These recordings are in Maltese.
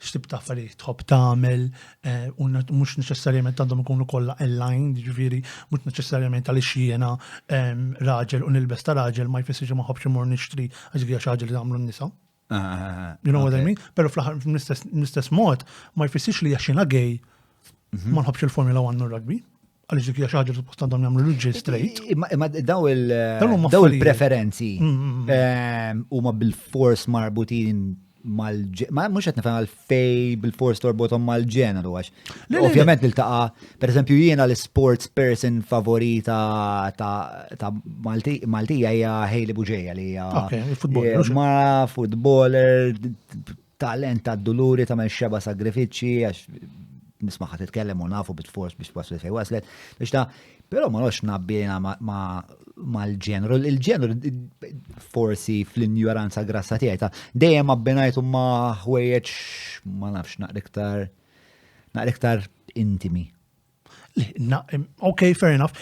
x'tib ta' affarijiet tħobb tagħmel eh, u mhux neċessarjament għandhom ikunu kollha aligned, ġifieri mhux neċessarjament għaliex jiena ehm, raġel u nilbes ta' raġel ma jfissirx ma ħobbx imur nixtri għax hija xi ħaġa li tagħmlu n-nisa. Ah, ah, ah, you know what I mean? Però fl-aħħar mill-istess mod ma jfissirx li għax jiena gay mhm. ma nħobbx il-Formula 1 u rugby. Għaliex dik hija xi ħaġa li suppost għandhom jagħmlu liġi straight. Imma daw il-preferenzi mm, mm, mm. ehm, huma bil-fors marbutin mal ma mhux qed nifhem għalfej bil-fors torbothom mal-ġeneru għax. Ovvjament niltaqa' pereżempju jiena l-sports person favorita ta' Maltija hija Hailey Buġeja li hija eh, ma futboler Talent tad-duluri tagħmel xeba' sagrifiċċji għax nismaħħa titkellem u nafu bit fors biex waslet fejn waslet. Biex ta' Però ma nħox nabbina mal-ġenru, il-ġenru forsi fl-injoranza grassa tiegħi ta' dejjem abbinajtu ma' ħwejjeġ ma nafx naqriktar naqriktar intimi. Ok, fair enough.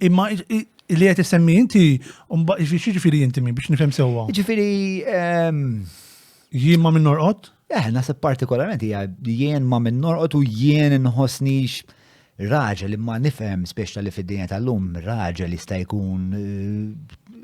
Imma li għet semmi inti, ġifiri inti mi biex nifem sewa? Ġifiri. Jien ma minn norqot? Eh, nasib partikolarment hija jien ma minn norqot u jien nħosnix raġel imma nifhem speċta li fid-dinja tal-lum raġel jista' jkun eh,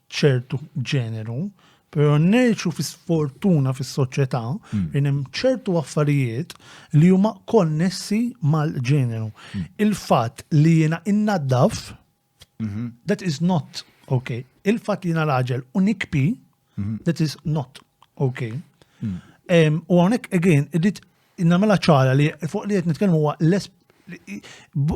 ċertu ġeneru, pero neċu fi sfortuna fis soċjetà hmm. li hemm ċertu affarijiet li huma konnessi mal-ġeneru. Hmm. Il-fatt li jiena innaddaf, mhm. that is not okay. Il-fatt li jiena raġel u nikpi, mhm. that is not okay. Hmm. U hawnhekk again, irrid Nagħmilha ċara li fuq li qed nitkellmu huwa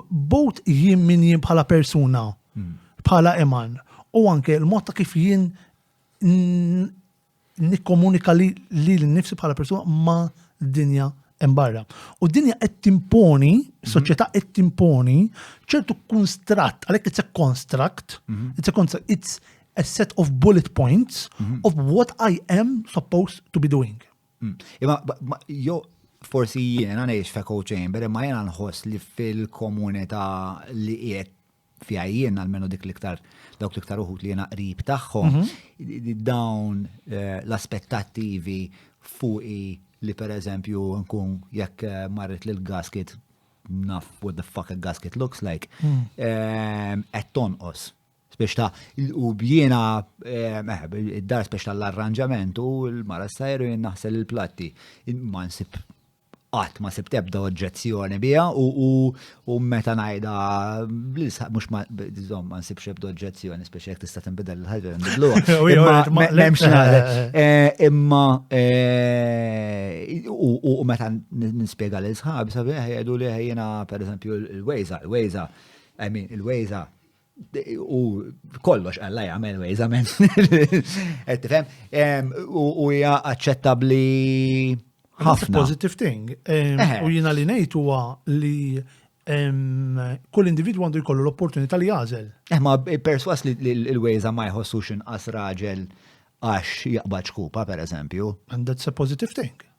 bot jien min jien bħala persuna, hmm. bħala iman, u anke l-mod ta' kif jien nikkomunika li l-nifsi bħala persuna ma' dinja embarra. U dinja qed timponi, mhm. soċjetà qed timponi ċertu konstratt, għalhekk it's a construct, mhm. it's a construct, it's a set of bullet points mhm. of what I am supposed to be doing. Mm. Imma jo forsi jiena ngħix f'echo chamber imma jiena nħoss li fil-komunità li qiegħed fiha jien għalmenu dik l-iktar dawk l-iktar uħut li jiena qrib tagħhom mhm. dawn eh, l-aspettattivi fuqi li per eżempju nkun jekk eh, marret lil gasket naf what the fuck a gasket looks like, qed mm. eh, tonqos. Spex ta' u jiena meħb eh, id-dar spex ta' l-arranġament u l-mara sajru jien naħsel il-platti. Ma nsib qatt ma sib tebda oġġezzjoni biha u meta ngħidha bl-isħaq mhux ma żomm ma nsibx ebda oġġezzjoni speċi jekk tista' tinbidel il-ħaġa nbidlu. Imma u meta nispjega lil sħab sabiħ jgħidu li ħejjina pereżempju l-wejża, l-wejża, I mean il-wejża u kollox għalla jgħamil ways għamen. Ettifem, u hija aċċettabli ħafna. Positive thing. U jina li nejt huwa li kull individu għandu jkollu l-opportunità li jażel. Eh, ma perswas li l-wejza ma jħossux inqas raġel għax jaqbad xkupa, per eżempju. And that's a positive thing.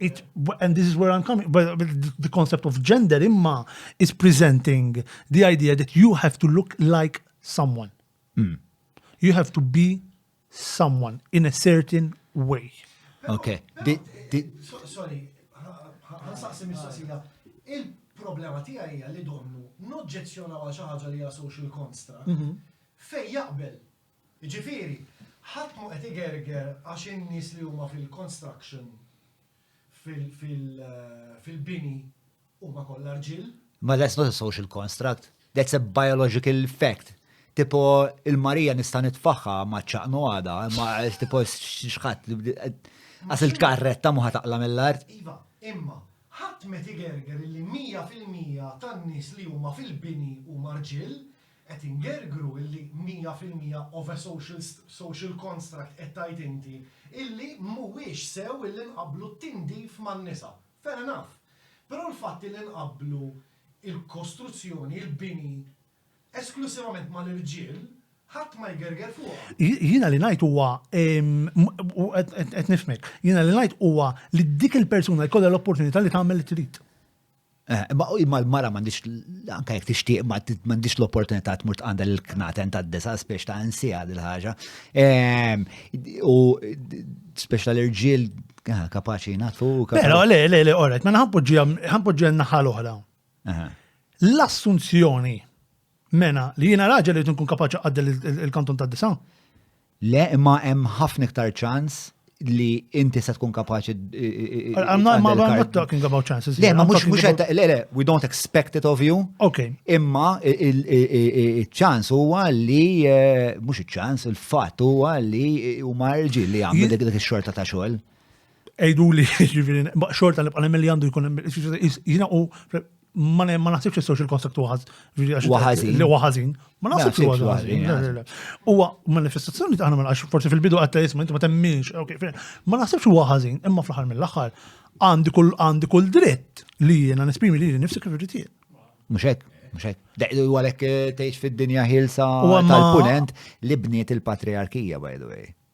it, and this is where I'm coming, but the concept of gender imma is presenting the idea that you have to look like someone. Mm. You have to be someone in a certain way. Okay. Di, di... So, sorry, ħansaqsi mistoqsija. Il-problema tiegħi hija li donnu noġġezzjona għal xi ħaġa li hija social construct mhm. fej jaqbel Jiġifieri, ħadd mhu qed igerger għax in-nies li huma fil-construction, fil-bini, huma kollha rġiel. Ma that's not a social construct, that's a biological fact. Tipo, il-Marija nista' nitfagħha ma' ċaqnu għada, ma' tipo xħat, għas il-karretta muħa taqla mill-art. Iva, imma, ħadd met igerger li 100% tan-nies li huma fil-bini huma rġiel, Qed ingergru illi mija fil-mija of a social social construct qed tgħid inti illi mhuwiex sew illi nqabblu t-tindif man-nisa. Fair enough. Però l-fatt illi nqabblu il-kostruzzjoni, il-bini, esklussivament mal-irġiel, ħadd ma jgerger fuqha. Jiena li ngħid huwa, qed nifhmek, jiena li ngħid huwa li dik il-persuna jkollha l-opportunità li tagħmel li trid. Eh, imma imma l-mara m'għandix anke jekk tixtieq ma m'għandix l-opportunità tmur tqandel il-knaten tad-disa spiex ta' nsija dil ħaġa. Ehm, u spiex tal-irġiel ah, kapaċi natu. Pero, le, le, le, orret, ma ħampoġġija ġen naħa l-oħra. L-assunzjoni mena li jiena raġel li tkun kapaċi għaddel il-kanton tad-disa. Le, imma hemm ħafna iktar ċans li inti se tkun kapaċi. I'm not talking about chances. Le, ma mux mux le, le, we don't expect it of you. Ok. Imma il-ċans huwa li, eh, mux il-ċans, il-fat huwa li huma rġil li għamlu dik dik xorta ta' xogħol. Ejduli, ġifiri, xorta nibqa' nemmen li għandu jkun jina u ma naħsibx jistgħu il-konstrukt waħaz. Waħazin. Li waħazin. Ma naħsibx li waħazin. Huwa manifestazzjoni ta' għana forsi fil-bidu għatta jisma inti ma temminx. Ma naħsibx waħazin, imma fl-aħħar mill-aħħar għandi kull għandi kull dritt li jiena nesprimi li nifsi kif irrid jien. Mhux hekk, mhux hekk. Deqdu għalhekk eh, tgħix fid-dinja ħilsa tal-punent li bniet il-patriarkija by the way.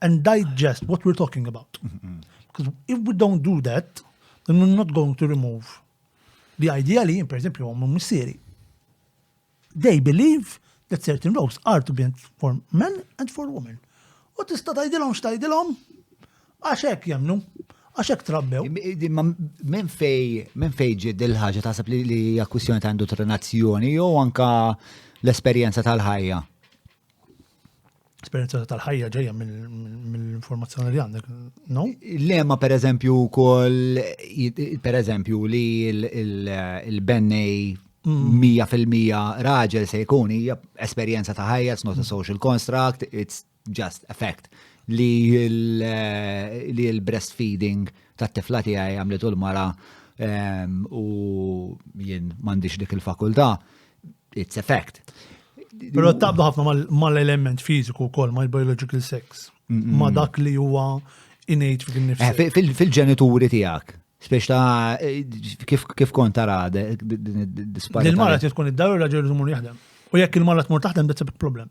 and digest what we're talking about. Because if we don't do that, then we're not going to remove the idea li, per esempio, għom missiri. They believe that certain roles are to be for men and for women. U tista tajdilom xtajdilom, għaxek jemnu, għaxek trabbew. Men fej, men fej ġid il-ħagġa taħseb li li akkwissjoni ta' indottrinazzjoni jew anka l-esperjenza tal-ħajja. esperjenza tal-ħajja ġejja mill-informazzjoni li għandek, no? Lema per eżempju kol, per eżempju li il-bennej 100% mm. raġel se jkun hija esperjenza ta' ħajja, it's not a mm. social construct, it's just a fact li l-breastfeeding ta' tifla tiegħi għamlet u l-mara ehm, u jien m'għandix dik il-fakultà it's a fact. Pero tabda ħafna mal-element fiziku kol, mal biological sex, ma dak li huwa innate fik nifsi. Eh, fil-ġenituri tijak, spiex ta' eh, kif kont tara din id-disparita. Il-mara tkun id-dar u raġel jżumur jaħdem. U jekk il-mara tmur taħdem, that's a big problem.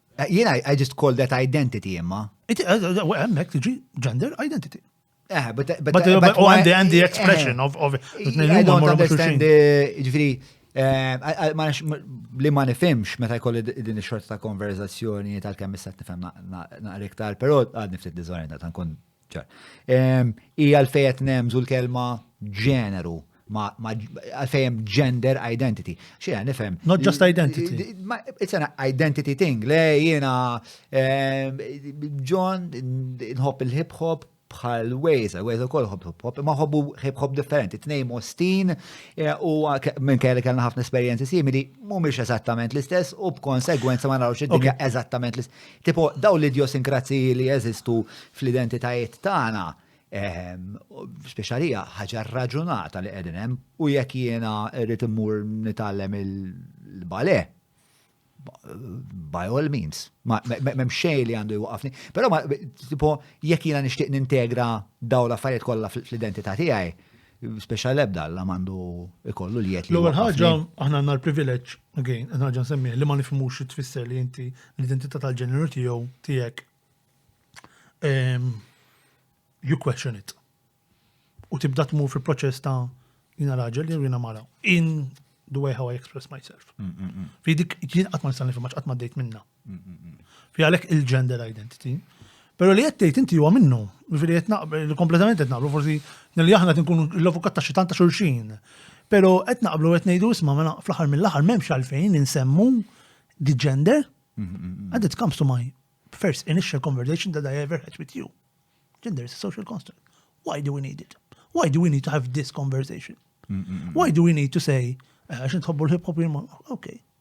Jien I just call that identity imma. Hemmhekk tiġi gender identity. Eh, but, but, but, but, oh, and, the, and the eh, expression eh, of, of I don't understand ġifiri, eh, li ma nifimx meta jkolli din ix-xorta ta' konverzazzjoni tal-kemm issa nifhem naqra iktar, però għad niftit diżorjenta ta' nkun I għalfej qed nemżu l-kelma ġeneru għalfej hemm gender identity. Xi nifhem. Not just identity. It's an identity thing. Le jiena John nħobb il-hip hop bħal Waze, Waze ukoll ħobb hip hop, ma ħobbu hip hop differenti, tnejn mostin u minn kelli kellna ħafna esperjenzi simili, mhumiex eżattament l-istess u b'konsegwenza ma narawx id-dinja eżattament l-istess. Tipo, dawn l-idjosinkrazziji li jeżistu fl-identitajiet tagħna, speċjalija ħaġa rraġunata li qegħdin hemm u jekk jiena rrid immur nitgħallem il-bale, by all means, m'hemm xejn li għandu jwaqafni. Però tipo jekk jiena nixtieq nintegra dawn l-affarijiet kollha fl-identità tiegħi, Speċa l-ebda Alla mandu ikollu li jgħet li. L-ewwel ħaġa aħna għandna l-privileġġ, again, ħaġa nsemmiħ li ma nifhmux xi tfisser li inti l-identità tal-ġeneru tiegħu tiegħek ehm, you question it. U tibda tmur fil-proċess ta' jina raġel jew jina mara. In the way how I express myself. Mm, mm, mm. Fi dik jien qatt ma nista' nifhimha qatt ma dejt minna. Fi għalhekk il-gender identity. Pero li qed tgħid inti huwa minnu, jiġifieri qed naqbel kompletament qed naqblu forsi li aħna qed nkunu l-avukat ta' xi tant ta' xulxin. Pero qed naqblu qed ngħidu isma' mela fl-aħħar mill-aħħar m'hemmx għalfejn insemmu di gender. And it comes to my first initial conversation that I ever had with you. Gender is a social construct. Why do we need it? Why do we need to have this conversation? Why do we need to say, eh, għax nitħobbu l-hip hop jirma, ok,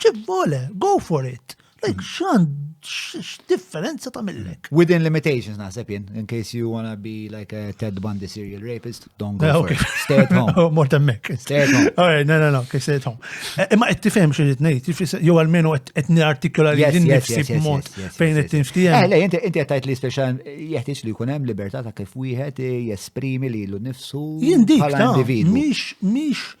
Kif vole, go for it. Like, xan, x-differenza ta' millek? Within limitations, naħseb jien, in case you wanna be like a Ted Bundy serial rapist, don't go eh, for it. Stay at home. Oh, Mort emmek. Stay at home. All right, no, no, no, stay at home. Eh, imma qed tifhem xi rid ngħid, jew almenu qed nirartikola li din nifsi b'mod fejn qed tinftiehem. Eh, le, inti qed tgħid li speċa jeħtieġ li jkun hemm libertà ta' kif wieħed jesprimi lilu nnifsu bħala individwu. Mhix mhix